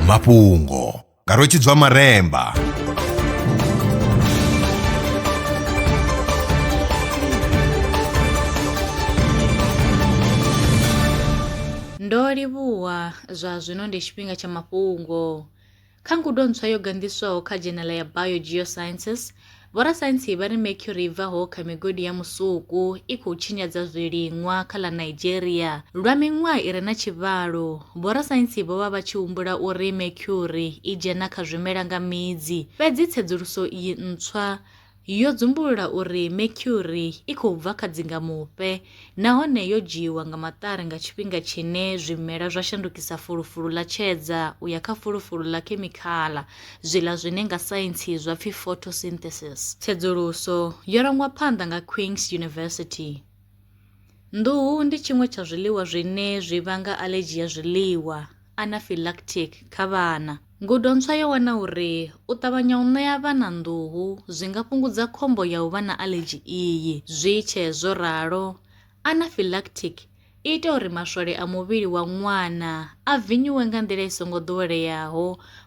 mafhungo nga rwetshidzwa maremba ndo livhuwa zwa zwino ndi tshifhinga tsha mafhungo Kha ngudo ntswa yo ganḓiswaho kha dzhenela ya Biogeosciences, vhorasaintsi vha ri mercury i bvaho kha migodi ya musuku i khou tshinyadza zwiliṅwa kha ḽa Nigeria. Lwa miṅwaha i re na tshivhalo, vhorasaintsi vho vha vha tshi humbula uri mercury i dzhena kha zwimela nga midzi, fhedzi tsedzuluso iyi ntswa yo dzumbulula uri mercury i khou bva kha dzingamufhe nahone yo dzhiiwa nga maṱari nga tshifhinga tshine zwimela zwa shandukisa fulufulu ḽa tshedza u ya kha fulufulu ḽa khemikhala zwiḽa zwine nga saintsi zwa pfi photosynthesis. Tsedzuluso yo rangwa phanḓa nga Queen's University. Nḓuhu ndi tshiṅwe tsha zwiḽiwa zwine zwi vhanga aḽedzhi ya zwiḽiwa, anaphylactic, kha vhana. Ngudo ntswa yo wana uri u ṱavhanya u ṋea vhana nḓuhu zwi nga fhungudza khombo ya u vha na aḽedzhi iyi. Zwi tshee zwo ralo, anaphylactic i ita uri maswole a muvhili wa ṅwana a vinyuwe nga nḓila i songo ḓoweleaho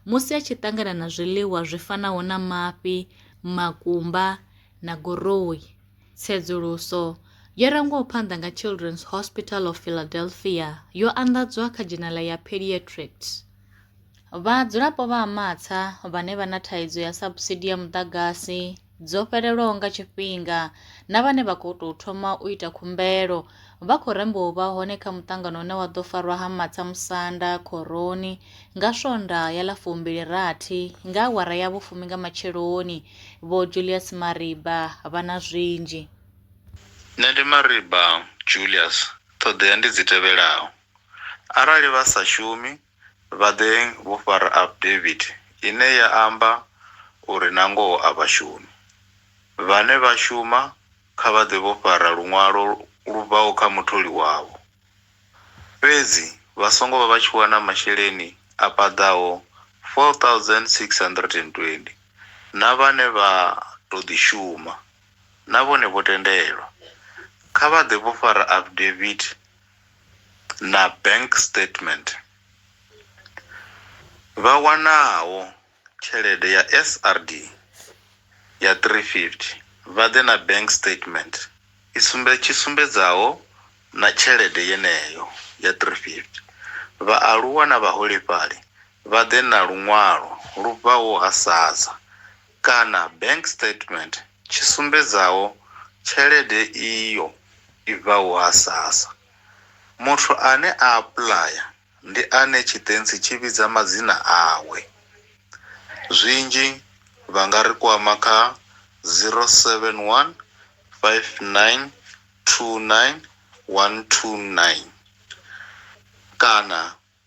musi a tshi ṱangana na zwiḽiwa zwi fanaho na mafhi, makumba na goroi. Tsedzuluso yo rangwaho phanḓa nga Children's Hospital of Philadelphia yo anḓadzwa kha dzhenala ya Pediatrics. Vhadzulapo vha ha Matsha vhane vha na thaidzo ya sabusidi ya muḓagasi, dzo fhelelwaho nga tshifhinga na vhane vha khou tou thoma u ita khumbelo vha khou rembwa u vha hone kha muṱangano une wa ḓo farwa ha Matsha Musanda Khoroni nga Swonda ya ḽa fumbili rathi nga awara ya vhufumi nga matsheloni. Vho Julius Mariba vha na zwinzhi. Nṋe ndi Mariba Julius, ṱhoḓea ndi dzi tevhelaho. Arali vha sa shumi, vha ḓe vho fara affidavit ine ya amba uri nangoho a vha shumi. Vhane vha shuma kha vha ḓe vho fara luṅwalo lu bvaho kha mutholi wavho. Fhedzi vha songo vha vha tshi wana masheleni a paḓaho R4,620. Na vhane vha tou ḓi shuma na vhone vho tendelwa. Kha vha ḓe vho fara affidavit na bank statement vha wanaho tshelede ya SRD ya 350 vha ḓe na bank statement i sumbe tshi sumbedzaho na tshelede yeneyo ya 350. Vhaaluwa na vhaholefhali vha ḓe na luṅwalo lu bvaho ha SASSA kana bank statement tshi sumbedzaho tshelede iyo i bvaho ha sassa. Muthu ane a apuḽaya ndi ane tshitentsi tshi vhidza madzina awe. Zwinzhi vha nga ri kwama kha 071 59 29 129 kana.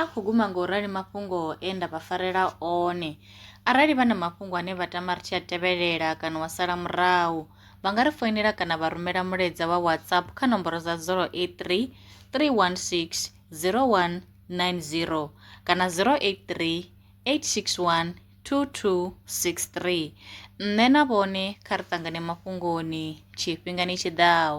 A khou guma nga u rali mafhungo e nda vha farela one. Arali vha na mafhungo ane vha tama ri tshi a tevhelela kana wa sala murahu, vha nga ri foinela kana vha rumela mulaedza wa WhatsApp kha nomboro dza 083 316 0190 kana 083 861 2263. Nṋe na vhone kha ri ṱangane mafhungoni tshifhingani tshi ḓaho.